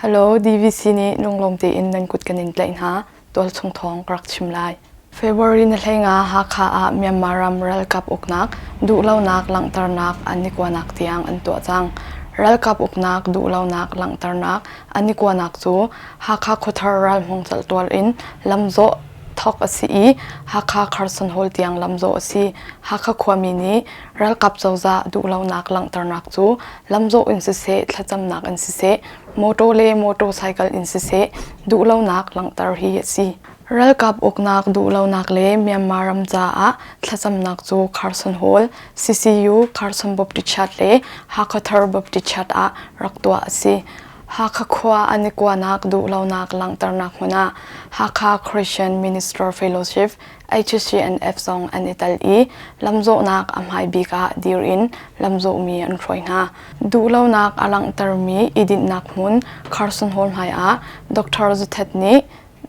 Hello, DVC nih lunglawm tein nan kut kan in tlaih hna. Tualchung thawng ka rak chim lai. February na hlenga Hakha ah Myanmar ram ralkap uknak, duhlonak langhternak anikuanak tiang an tuah cang. Ralkap uknak, duhlonak langhternak anikuanak cu Hakha khuathar ralhmung caltual in lamzawh thawk a si i Hakha Carson Hall tiang lamzawh a si. Hakha khuami nih ralkap cozah duhlonak langhternak cu lamzawh in siseh thlacamnak in siseh motor le motorcycle in siseh duhlonak langhter hi a si. Ralkap uknak duhlonak le Myanmar ram caah thlacamnak cu Carson Hall, CCU Carson Baptist Church le Hakha Thar Baptist Church ah rak tuah a si. Hakha khua an i kuanak duh lonak langhternak hmun ah Hakha Christian Minister Fellowship HCNF zong an i tel i lamzawhnak a hmai bik ah dir in lamzawhmi an hruai hna. Duhlonak a langhtermi i dinhnak hmun Carson Hall hmai ah Dr. Zuthet nih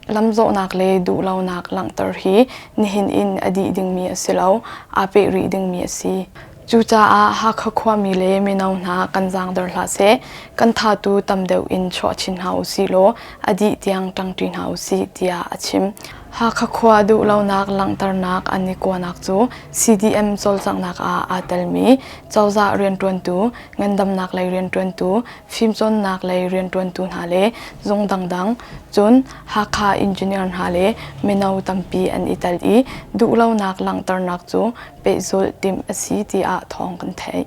lamzawhnak le duhlonak langhter hi nihin in a dih dingmi a si lo, aa peh rih dingmi a si. Cucaah Hakha khuami le mino hna kan zaangder hlah seh, kan thatu tam deuh in chuah chin hna u si law a dih tiang ṭangṭi hna u sih tiah a chim. Hakha khua duhlonak langhternak an i kuanak cu CDM cawlcanghnak ah aa telmi cozah rianṭuantu, ngandamnak lei rianṭuantu, fimcawnnak lei rianṭuantu hna le zung dangdang, cun Hakha engineer hna le mino tampi an i tel i duhlonak langhternak cu pehzulh timh a si tiah thawng kan theih.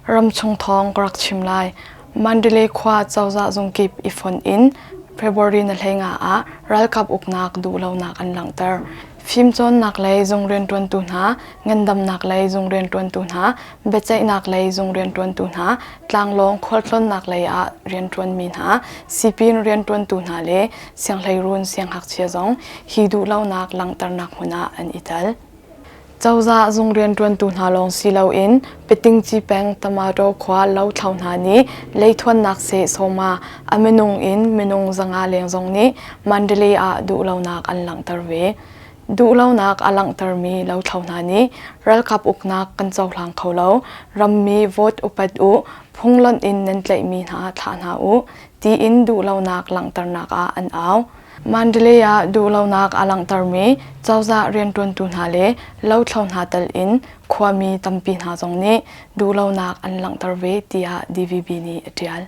Ramchung thawng ka rak chim lai. Mandalay khua cozah zungkip i fonh in February na hleinga ah ralkap uknak duhlonak an langhter. Fimcawnnak lei zung rianṭuantu hna, ngandamnak lei zung rianṭuantu hna, biaceihnak lei zung rianṭuantu hna, tlanglawng khualtlawnnak lei ah rianṭuanmi hna, sipin rianṭuantu hna le sianghleirun sianghngakchia zong hi duhlonak langhternak hmun ah an i tel. Cozah zung rianṭuantu hna lawng si loin Pitingci peng Tamato khua lothlo hna nih leithuannak se sawma a minung in minung zanga leng zong nih Mandalay ah duhlonak an langhter ve. Duhlonak a langhtermi lothlo hna nih ralkap uknak kan cohlang kho lo. Rammi vote upat u, phunglonh in nan tlaihmi hna thlah hna u, tiin duhlonak langhternak ah an au. Mandalay ah duhlonak a langhtermi cozah rianṭuantu hna le lothlo hna tal in khuami tampi hna zong nih duhlonak an langhter ve tiah DVB nih a ṭial.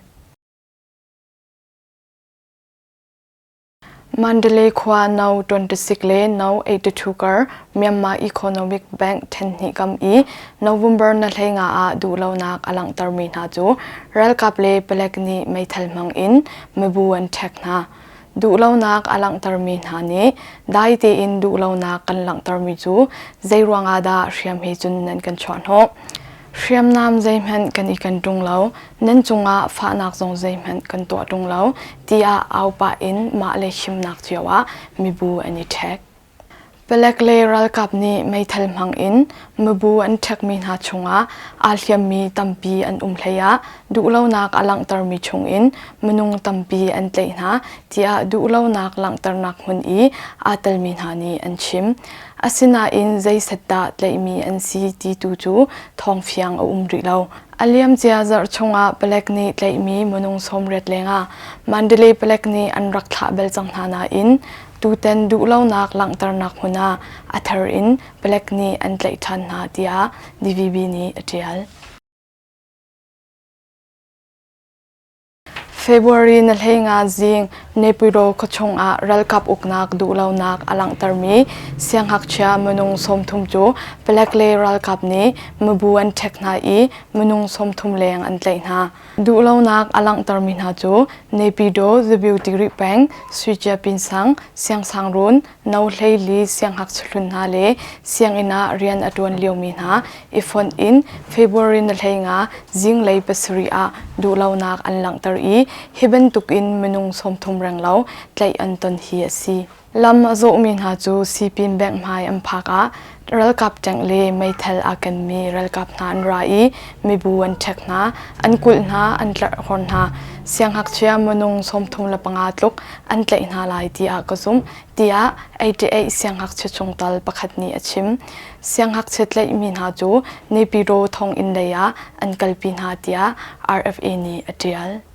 Mandalay khua no 26 le no 82 kar Myanmar Economic Bank ṭhenhnih kam i November na hlei nga ah duhlonak a langhtermi hna cu ralkap le palek nih meithal hmang in mibu an ṭhek hna. duhlonak a langhtermi hna nih dai tein duhlonak kan langhtermi cu zeiruangah dah hriam he cun nan kan chuahhnawh hriamnam zeihmanh kan i kan ṭung lo nan cungah fahnak zong zeihmanh kan tuah ṭung lo tiah au pah in mah le himnak cio ah mibu an i ṭhek. Palek le ralkap nih meithal hmang in mibu an ṭhekmi hna chungah aa hliammi tampi an um hleiah duhlonak a langhtermi chungin minung tampi an tlaih hna tiah duhlonak langhternak hmun i aa telmi hna nih an chim. Asinain zeiset dah tlaihmi an si ti tu cu thawngfiang a um rih lo. A liamcia zarh chungah palek nih tlaihmi minung sawmriat lengah Mandalay palek nih an rak thlah bel cang hna nain Tutan duhlonak langhternak hmun ah a thar in Palek nih an tlaih ṭhan hna tiah DVB nih a ṭial. February na hlenga zing Nepiro khuachung ah ralkap uknak duhlonak a langhtermi sianghngakchia minung sawmthum cu Palek le ralkap nih mibu an ṭhek hna i minung sawmthum leng an tlaih hna. Duhlonak a langhtermi hna cu Nepidaw, Zabiutigri peng, Suicia-Pinsang, Siangsangruun, No Hleili sianghngak sahlun hna le sianginn ah rian a ṭuan liomi hna i fonh in February ni hlei nga zinglei pasarih ah duhlonak an langhter i hi bantuk in minung sawmthum renglo tlaih an ton hi a si. Lam a zawhmi hna cu Sipin Bank hmai an phak ah ralkap ṭenk le meithal aa kenmi ralkap hna an ra i mibu an ṭhek hna, an kulh hna, an tlarhkhor hna. Sianghngakchia minung sawmthum le panga tluk an tlaih hna lai tiah ka zumh, tiah 88 sianghngakchia chungtel pakhat nih a chim. Sianghngakchia tlaihmi hna cu Nepiro thonginn lei ah an kalpi hna tiah RFA nih a ṭial.